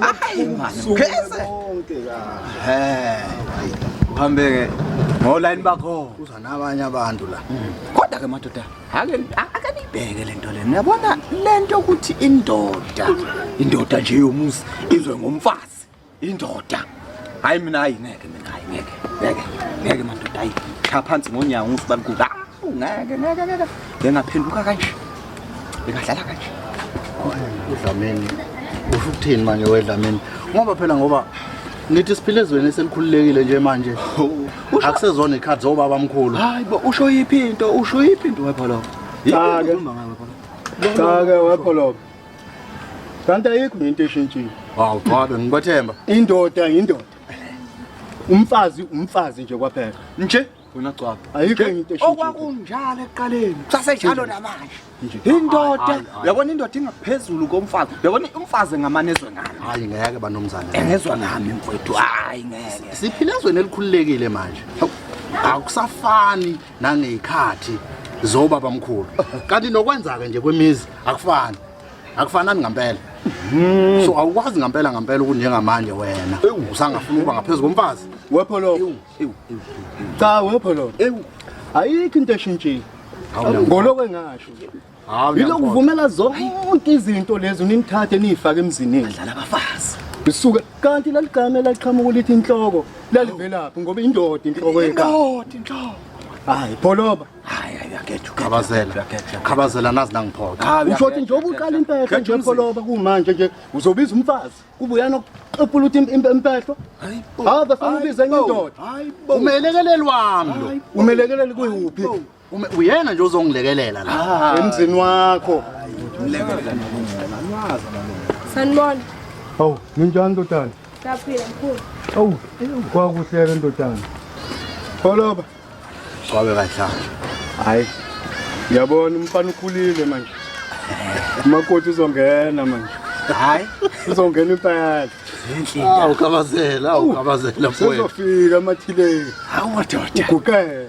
Hayi manje mkhese. He. Uhambeke ngoline bakho. Kuza nabanye abantu la. Kodwa ke madoda, ake ake nibheke lento le. Niyabona lento ukuthi indoda, indoda nje yomuzi izwe ngomfazi. Indoda. Hayi mina hayi ngeke mina hayi ngeke. Ngeke. Ngeke madoda hayi. Cha phansi ngonyawo ngisibalikuka. Ngeke ngeke ngeke. Ngengaphenduka kanje. Bengadlala kanje. Udlameni. Usho ukuthini manje wedlameni? Ngoba phela ngoba nithi siphile ezweni eselikhululekile nje manje. Akusezona ikhadi zobaba omkhulu. Hayi bo usho yiphi into? Usho yiphi into wepholo? Cha ke. Cha ke wepholo. kanti ayikho into eshintshile hawu cha bengibathemba indoda indoda umfazi umfazi nje kwaphela nje wena gcwaba ayikho into eshintshile okwakunjalo ekuqaleni kusasenjalo namanje indoda uyabona indoda ingaphezulu komfazi uyabona umfazi engamane ezwe ngami hayi ngeke banomzane engezwa ngami mfowethu hayi ngeke siphila ezweni elikhululekile manje akusafani nangey'khathi zobabamkhulu kanti nokwenza-ke nje kwemizi akufani akufanani ngampela hmm. so awukwazi ngampela ngampela ukuthi njengamanje wena usangafuna ukuba ngaphezu komfazi wepholo cha wepholo ayikho into eshintshile ngolokwengasho Hawu Yilokhu vumela zonke izinto lezo ninithathe niyifake emzinini. Dlala abafazi. Bisuka kanti laligame laqhamuka lithi inhloko lalivelaphi ngoba indoda inhloko yeka. Indoda inhloko. Hayi pholoba. Hayi hayi akethu khabazela. Khabazela nazi nangiphoka. Usho ukuthi njengoba uqala impehla nje pholoba kumanje nje uzobiza umfazi kubuyana ukuqepula uthi impehlo. Hayi. Hayi bafuna ubize indoda. Hayi. Umelekeleli wami lo. Umelekeleli kuyuphi? Uma uyena nje ozongilekelela la Ah. emzini wakho. Mlekelela nokungena. Anwazi amalungu. Sanibona. Hawu, ninjani ndodana? Saphila mkhulu. Hawu, kwakuhleke ndodana. Pholoba. Kwabe kanjalo. Hayi. Ngiyabona umfana ukhulile manje. Umakoti uzongena manje. Hayi, uzongena impayala. Awu, kabazela, awu, kabazela, mfowethu. Sizofika amathileni. Hawu madoda. Uguqele.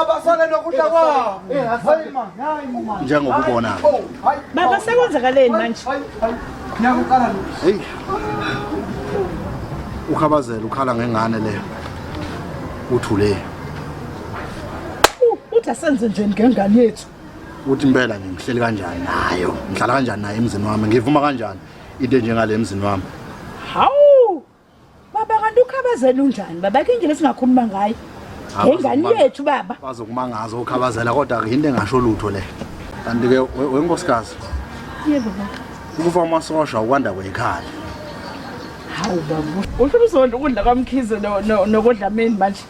abasale nokudla kwabo njengokubona baba sekwenzakaleni manje ngiyakuqala hey ukhabazela ukhala ngengane leyo uthule uthi asenze njeni ngengane yethu uthi impela nje ngihleli kanjani nayo ngihlala kanjani naye emzini wami ngivuma kanjani into enjengale emzini wami hawu Baba kanti ukhabazela unjani baba ke indlela singakhuluma ngayo ngengane yethu baba. Bazokumangaza ukhabazela kodwa ke into engasho lutho le. Kanti ke wenkosikazi. Yebo baba. Ukufa amasosha ukwanda kwekhaya. Hawu baba. Uhlumsondo ukudla kwamkhize nokudlameni manje.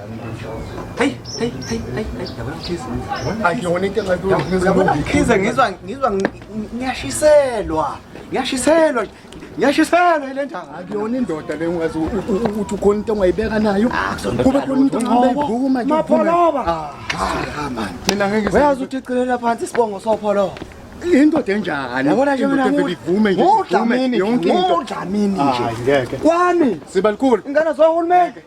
Hey, hey, hey, hey, hey, yabona Khiza. Akuyona into engathi Yabona Khiza ngizwa ngizwa ngiyashiselwa. Ngiyashiselwa. Ngiyashiselwa ile njanga. Akuyona indoda le ungazi ukuthi ukhona into ongayibeka nayo. Ah, Kube khona into ongayibhuku manje. Mapholoba. Ah, ah man. Mina ngeke ngizi. Uyazi ukuthi iqilela phansi isibongo sopholoba. indoda enjani yabona nje mina ngivume nje udlamini yonke into udlamini nje ngeke kwami sibalikulu ingane zohulumeni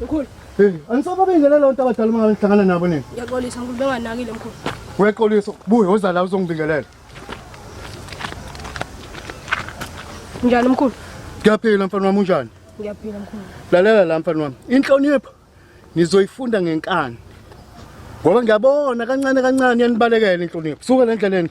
Mkhulu. Hey, anisaba bengele lonto abadala uma ngihlangana nabo nini? Ngiyaxolisa mkhulu benganakile mkhulu. Uyaxolisa, buya uza la uzongibingelela. Njani mkhulu? Ngiyaphila mfana wami unjani? Ngiyaphila mkhulu. Lalela la mfana wami. Inhlonipho nizoyifunda ngenkani. Ngoba ngiyabona kancane kancane yanibalekela inhlonipho. Suka lendleleni.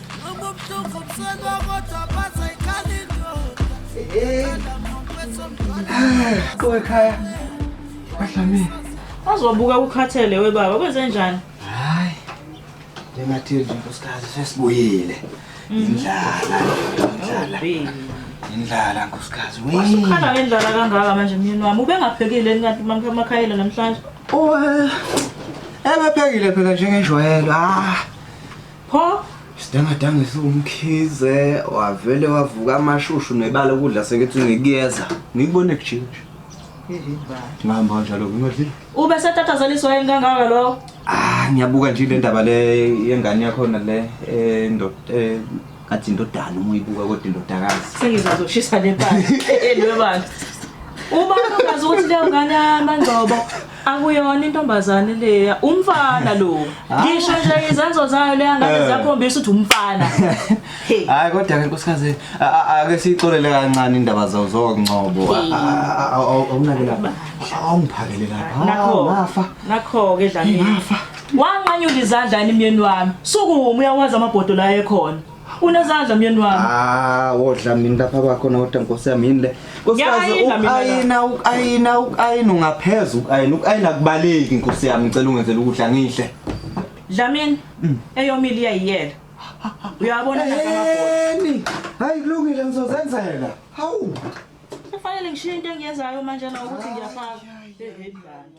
Kowekhaya badlamile. Azobuka ukhathele webaba kwenze njani? Hayi. Lengathi nje nkosikazi sesibuyile. Mhm. Indlala. Indlala. Oh, Indlala nkosikazi. Wasukhala ngendlala kangaka manje myeni wami. Ubengaphekile kanti mamakhayela namhlanje. Oh. Ebephekile phela njengenjwayelo. Ah. Pho Sidangadanga esiwumkhize wavele wavuka amashushu nebala ukudla sekethi ngikuyeza. Ngikubone kujinja. Ngihamba kanjalo ngingadlile. Ube setatazaliswa yini kangaka lo? Ah ngiyabuka nje le ndaba le yengane yakho na le eh ndo eh athi indodana uma uyibuka kodwa indodakazi. Sengizazoshisa le pala. Elwe bantu. Uma ungazi ukuthi leyo ngane yamangcobo Akuyona intombazane leya, umfana lo. Ah. Ngisho nje izenzo zayo leya ngane eh. ziyakhombisa ukuthi umfana. Hayi kodwa ke nkosikazi ake sixolele kancane indaba zawo zokuncobo. Awunake lapha. Awungiphakele lapha. Nakho. Ngafa. Nakho ke dlamini. Ngafa. Wanqanyula izandla imyeni wami. Sukuma uyawazi amabhodo la ekhona. Unezandla myeni wami. Ah, wodla mina lapha bakho na wodwa Nkosi yami yini le. Nkosikazi Ngiyayina mina la. ukayina ukayina ukayina ungaphezulu ukayina ukayina kubaleki Nkosi yami ngicela ungenzele ukudla ngihle. Dlamini eyomile iyayiyela. Uyabona la kamabhola. Eni. Hayi kulungile ngizozenzela. Hawu. Kufanele ngishiye into engiyenzayo manje na ukuthi ngiyafaka. Hey, hey, dlala.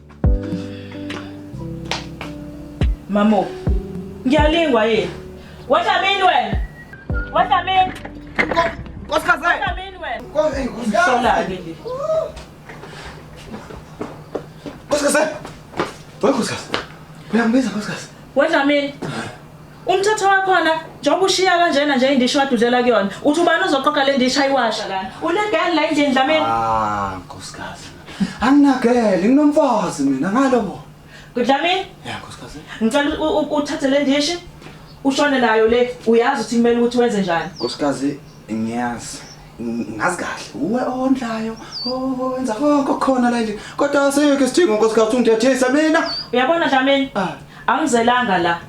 Mamo, ngiyalingwa yini? Wadlamini wena. Wadlamini. Nkosikazi. Wadlamini wena. Nkosikazi. Usolake nje. Nkosikazi. Wewe nkosikazi. Uyambiza nkosikazi. Wadlamini. Umthetho wakhona njengoba ushiya kanjena nje indishi wadudlela kuyona. Uthi ubani uzoqoqa le ndishi ayiwasha lana. Unegal la endlini Dlamini. Ah, nkosikazi. anginagele nginomfazi mina ngalobo kudlamini ya nkosikazi ngicela u- u- uthathe le ndishi ushone nayo le uyazi ukuthi kumele ukuthi wenze njani nkosikazi ngiyazi ng- ngazi kahle uwe ondlayo o- wenza konke okukhona la endlini kodwa asikho isidingo nkosikazi ungithethisa mina uyabona dlamini Ah. angizelanga la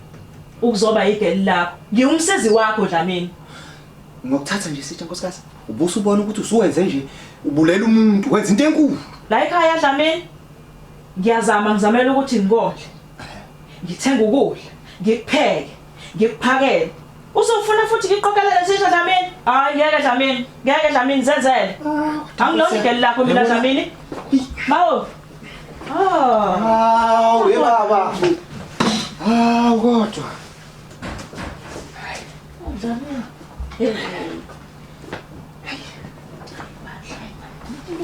ukuzoba yigeli lakho ngiwumsizi wakho dlamini Ngokuthatha nje sithe nkosikazi ubusa ubona ukuthi usuwenze nje ubulela umuntu wenza into enkulu. La ekhaya Dlamini ngiyazama ngizamela ukuthi ngikondle. Ngithenga ukudla, ngikupheke, ngikuphakele. Usufuna futhi ngiqokelele sisha Dlamini? Hayi ngeke Dlamini, ngeke Dlamini zenzele. Ah, Angilona igeli lakho mina Dlamini. Mawo. Ah. Hawu, ye baba. Hawu kodwa.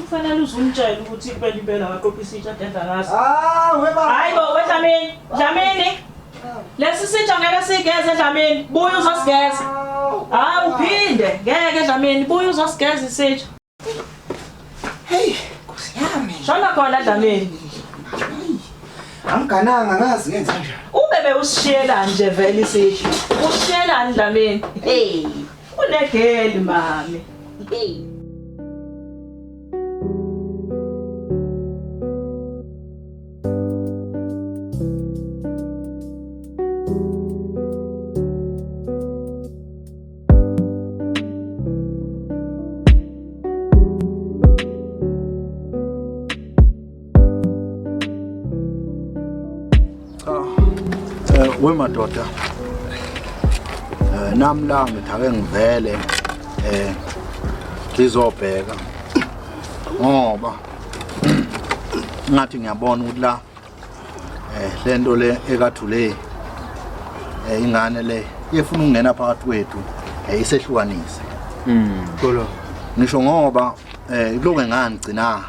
kufanele uzumtshela ukuthi impela impela waqophisa itsha denza ngaso ah, hayi bo wedlamini dlamini lesi sitsha ngeke sigeze dlamini buya uzosigeza hayi uphinde ngeke dlamini buya uzosigeza isitsha Hey, Nkosi yami. Shona khona Dlamini. Angigananga ngazi ngenza kanjani. Ubebe usishiyela nje vele isithi. Ushiyela Dlamini. Hey, unegeli mami. Hey. we madoda eh, nami la ngithi ake ngivele eh ngizobheka ngoba ngathi ngiyabona ukuthi la eh lento le ekathu le eh ingane le yefuna ukungena phakathi kwethu eh isehlukanise mm kolo ngisho ngoba eh kuloke ngani gcina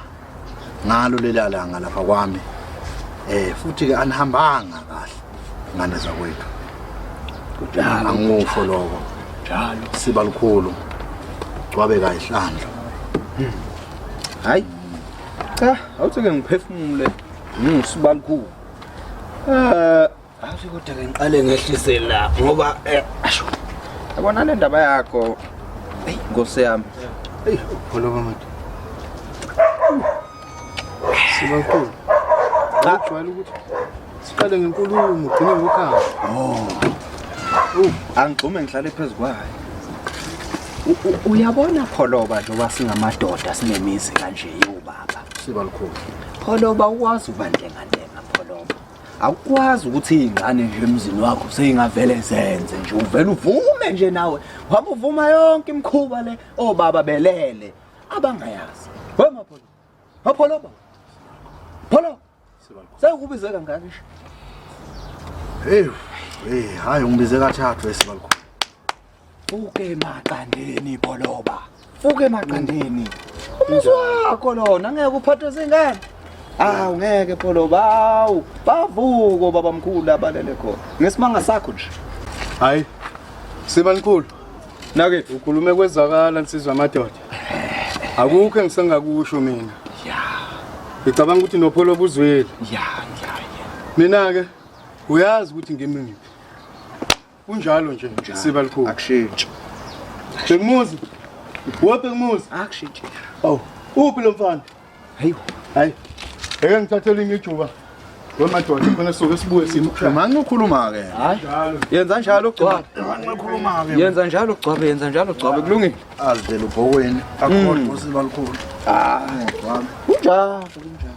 ngalo lelalanga lapha kwami eh futhi ke anihambanga kahle ngane zakwethu kudala angikusho lokho njalo siba lukhulu kwabe kayihlandla hmm. hayi cha awuthi ke ngiphefumule Mm, sibalukhulu. Eh, athi kodwa ke ngiqale ngehlise la ngoba eh asho. Yabona le ndaba yakho. Hey, Nkosi yami. Hey, ukhuluma manje. Sibakhulu. Cha. Ujwayele ukuthi siqale ngenkulumo ugcine ngokhamba. Angigxume ngihlale phezu kwayo. U- u- Uyabona pholoba njengoba singamadoda sinemizi kanje yobaba. Sibakhulu. Pholoba ukwazi ubantengantenga pholoba. Awukwazi ukuthi izingane nje emzini wakho seyingavele zenze nje uvela uvume nje nawe. Ngoba uvuma yonke imkhuba le obaba belele abangayazi. We mapholoba. Mapholoba. Pholoba. Sekubize kangaka nje. Hey, hey, hayi ungibize kathathu esibalukhulu. Fuke maqandeni boloba. Fuke maqandeni. Umuzi wakho lona ngeke uphathwe zingane. Awu ngeke boloba. Awu bavuko babamkhulu abalele khona. Ngesimanga sakho nje. Hayi. Siba likhulu. Nake ukhulume kwezwakala nsizwa amadoda. Akukho engisengakusho mina. Ngicabanga ukuthi nopholo obuzwile. Ya, ya, ya. Mina ke uyazi ukuthi ngimi ngiphi. Kunjalo nje siba likhulu. Akushintshi. Bengmuzi. Wo Bengmuzi. Akushintshi. Awu, uphi lo mfana? Hayi. Hayi. Eke ngithathele ingijuba. Wemadoda khona soke sibuye simkhulu. Manje ukhuluma ke. Hayi. Yenza njalo ugcwabe. Manje ukhuluma ke. Yenza njalo ugcwabe, yenza njalo ugcwabe kulungile. Azivela ubhokweni. Akukho usiba likhulu. Ah, ugcwabe. Kunjalo, kunjalo.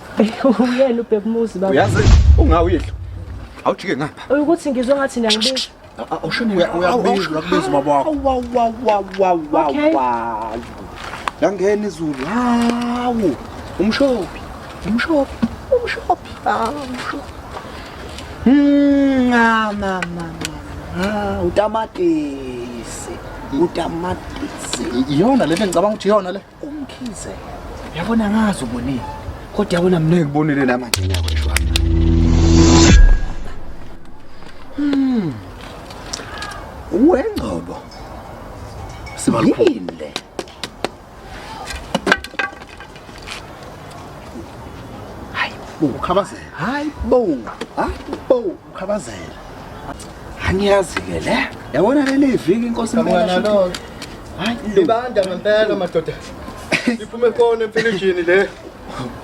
Uyena ubhekumuzi baba. Uyazi ungawidla. Awujike ngapha. Ukuthi ngizwe ngathi niyangibika. Awushini uyakubiza uyakubiza ubaba wakho. Wow wow wow wow wow wow. Langena izulu. Hawu. Umshophi. Umshophi. Umshophi. Hawu umshophi. Mama mama. Ah, utamatisi. Utamatisi. Iyona le ngicabanga ukuthi iyona le. Umkhize. Yabona ngazi ubonile. Kodwa yabona mina ngikubonile namanje mina kweshwa. Hmm. Uwengcobo. Sibalini le. Hayi, ukhabazela. Hayi bo. Hayi bo, ukhabazela. angiyazi ke le yabona leli viki inkosi impela hayi libanda ngempela madoda iphume khona emfilishini le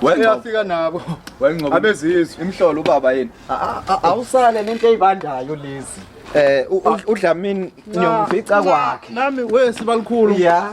wayafika nabo wayengcobo abezizwe imhlolo ubaba yini awusale nento eyibandayo lezi eh udlamini ngiyomfica kwakhe nami wesi balikhulu yeah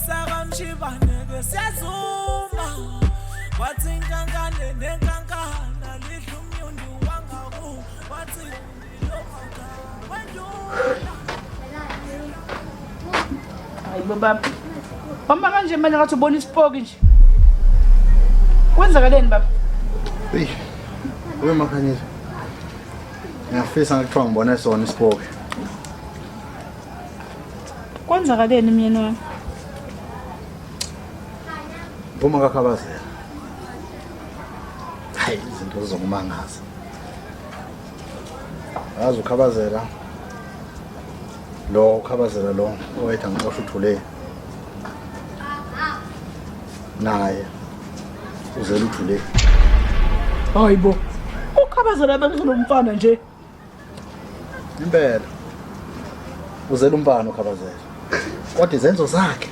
sakamshibaneke siyazuma wathi inkankane nenkankana lidla umnyundi wangaku wathi ndilomaka wendula hayi bobaba bamba kanje manje ngathi ubona isipoki nje kwenzakaleni baba eyi ube makhanyisa ngiyafisa ngakuthiwa ngibone sona isipoki Kwenzakaleni myeni wami? Phuma kakhabazela. Hayi izinto zizokumangaza. Yazi ukhabazela. Lo ukhabazela lo owethu angixosha uthule. Naye uzela uthule. Hayibo. Ukhabazela bekuzonomfana nje. impela uzela umbani ukhabazela kodwa izenzo zakhe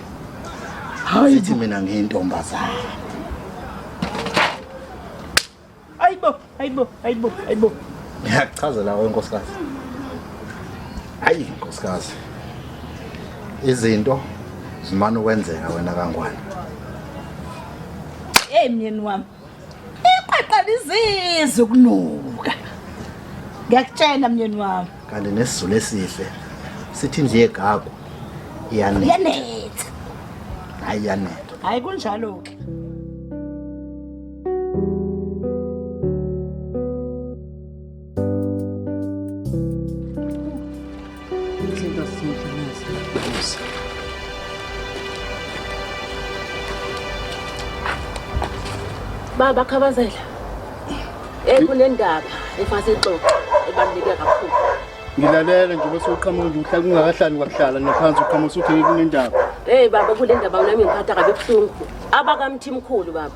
hayi ithi mina ngiyintombazane ayibo ayibo ayibo ayibo ngiyakuchazela wenkosikazi ayi nkosikazi izinto zimane ukwenzeka wena kangwane hey myeni wami Iqaqa lizizi ukunuka. Ngiyakutshela myeni wami. Kanti nesizulu esihle sithi indle yegagu iyanetha. Yanetha. Hayi iyanetha. Hayi kunjalo ke. Baba Khabazela. Eh kunendaba efase ixoxo ebaluleke kakhulu. Ngilalele nje bese uqhamuka nje uhlala ungakahlali kwakuhlala naphansi uqhamuka usuthi kunendaba. Hey baba kule ndaba unami ngiphatha kabe buhlungu. Abakamthimkhulu baba.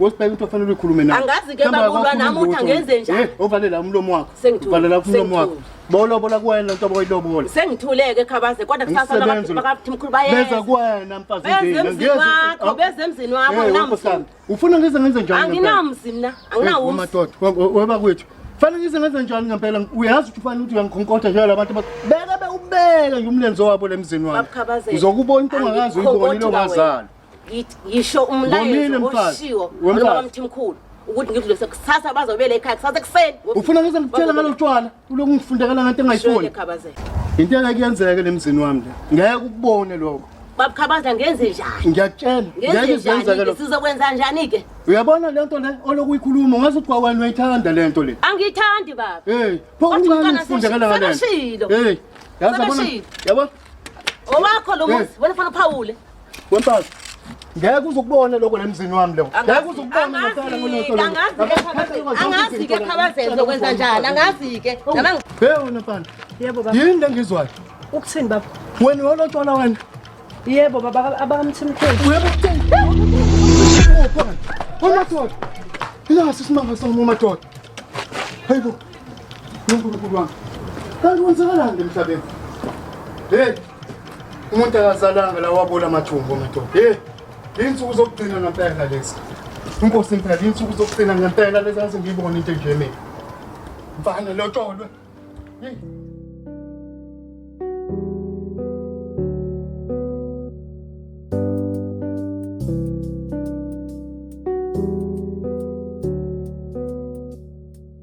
Wesibheka into ofanele uyikhulume nayo. Angazi ke bakulwa nami uthi angenze njani. Eh, ovalela umlomo wakho. Uvalela umlomo wakho. Bolobola kuwena lento boyilobola. Sengithuleke khabaze kodwa kusasa abantu bakathi mkhulu bayeza. Beza kuwena mfazi ngeke. Beza wakho, beza emzini wakho eh, namzi. Ufuna ngize ngenze njani? Anginamzi mina, anginawo. Eh, Madoda, weba kwethu. Fanele ngize ngenze njani ngempela? Uyazi ukuthi ufanele ukuthi uyangikhonkoda nje labantu beka be ubeka nje umlenze wabo lemzini wakho. Uzokubona into ongakazi uyibonile ongazali. yisho umlayezo oshiwo noma mthimkhulu ukuthi ngidlulise kusasa bazobele ekhaya kusasa ekuseni ufuna ngize ngitshela ngalo tshwala uloku ngifundekela ngento engayifuni into engeke yenzeke lemzini wami le ngeke ukubone lokho babukhabaza ngenze njani ngiyakutshela ngeke zenzeke lokho sizokwenza njani ke uyabona le nto le oloku uyikhuluma ungaze uthi kwawena uyithanda le nto le angiyithandi baba hey pho uncane ngifundekela ngale hey yazi yabona yabona Owakho lo muzi, wena fana phawule. Wemfazi. Ngeke uzukubone lokho lemzini wami lo. Ngeke uzukubone ngasala ngonoto. Angazi ke khabazenze ukwenza njani? Angazi ke. Oh, Nabang. Hey wena mfana. Yebo baba. Yini lengizwayo? Ukuthini baba? Wena wolotshwala wena. Yebo baba abakamthimkhulu. Yebo kuthini? Uma thola. Ila sisimanga somumadoda. Hayibo. uNkulunkulu wami kanti kwenzakalani emhlabeni hey umuntu akazalanga la wabola amathumbu madoda hey insuku zokugcina ngempela lezi inkosi impela insuku zokugcina ngempela lezi angize ngiyibone into enje mina mfana lotsholwe hey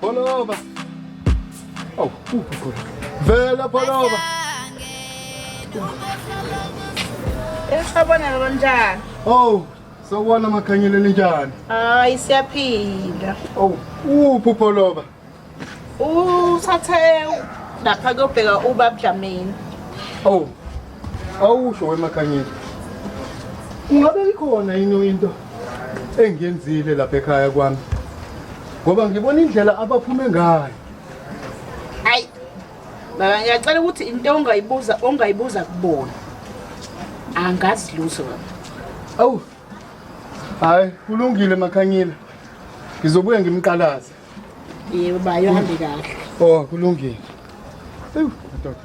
Pholova. Awu, kuphi khona? Vela pholova. Esabona lo njani? Oh, sawubona makhanyile ninjani? Hayi siyaphila. Oh, uphi pholova? Usathe lapha kuyobheka ubabdlamini. Oh, Awusho wemakhanyeni. Ungabe ikhona yini into engiyenzile lapha ekhaya kwami? Ngoba ngibona indlela abaphume ngayo. Hayi. Baba ngiyacela ukuthi into ongayibuza ongayibuza kubona. Angazi lutho baba. Awu. Hayi, kulungile makhanyile. Ngizobuye ngimqalaze. Yebo bayo hambe kahle. Oh, kulungile. Ewu, madoda.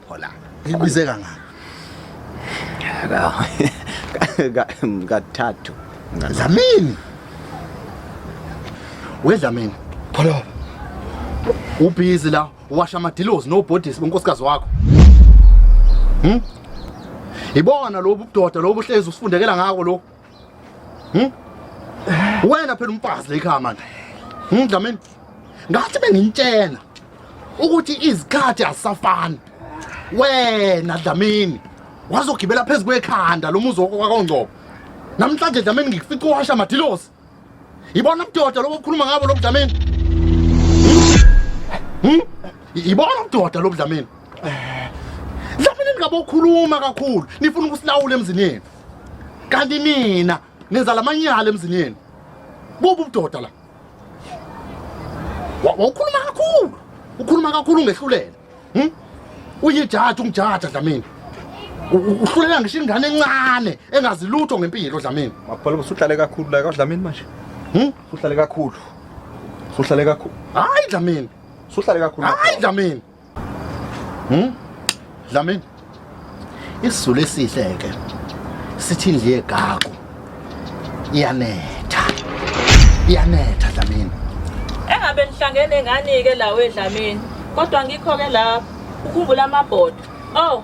Phola. Ngibize kangaka. Kathathu. Zamini. We Zamini. Phola. Ubhizi la washa amadilozi no bodies bonkosikazi wakho. Hm? Ibona lobu budoda lobu hlezi usifundekela ngako lo. Hmm? Wena phela umfazi la ekhaya manje. Hmm, Dlamini. Ngathi bengintshela ukuthi izikhathi azisafani. Wena Dlamini wazogibela phezu kwekhanda lomuzi wakho kwaKongcobo. Namhlanje Dlamini ngikufica uwasha madilosi. Yibona ubudoda lobo okhuluma ngabo lo Dlamini. Hmm? Hmm? Yibona ubudoda lo Dlamini. Dlamini ningabokhuluma kakhulu nifuna ukusilawula emzini yenu. kanti nina nenza lamanyala emzini yenu bubu budoda la wawukhuluma kakhulu ukhuluma kakhulu ungehlulela hm? uyijaji ungijaja dlamini uhlulela ngisho ingane encane engazi lutho ngempilo dlamini maphola usuhlale kakhulu la kadlamini manje hm? usuhlale kakhulu usuhlale kakhulu hayi dlamini usuhlale kakhulu hayi dlamini Hmm? Dlamini. Isizulu esihle ke. Sithi indli yegagu. Iyanetha. Iyanetha Dlamini. Engabe nihlangene ngani ke la wedlamini. Kodwa ngikho ke lapha. Ukhumbula amabhodo. Oh,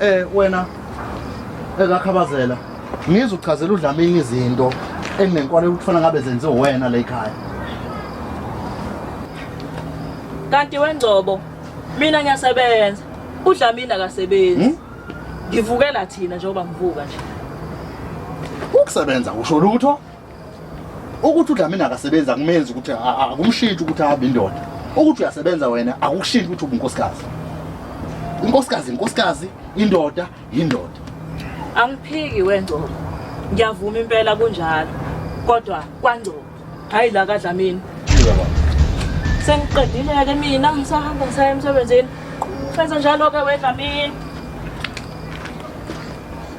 Eh wena ekakhabazela ngizwe uchazela uDlamini izinto enginenkwale ukufana ngabe zenze wena la ekhaya. Kanti wengcobo mina ngiyasebenza uDlamini akasebenzi. Hmm? Ngivukela thina njengoba ngivuka nje. Ukusebenza usho lutho? ukuthi udlamini akasebenzi akumenzi ukuthi akumshintshi ukuthi ahambe indoda ukuthi uyasebenza wena akukushintsha ukuthi ubunkosikazi inkosikazi inkosikazi indoda yindoda angiphiki wengcobo ngiyavuma impela kunjalo kodwa kwangcobo hayi la kadlamini sengiqedile-ke mina ngisahamba ngisaya emsebenzini senze njalo-ke wedlamini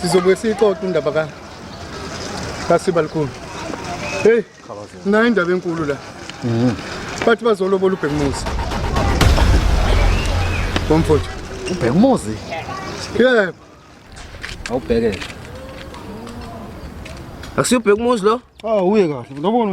sizobuye siyixoxe indaba ka kasiba likhulu heyi nayo indaba enkulu la mhm. bathi bazolobola ubhekumuzi bomfowethu ubhekumuzi yebo awubhekele akusiyobheka umuzi lo awu uye kahle ngiyabona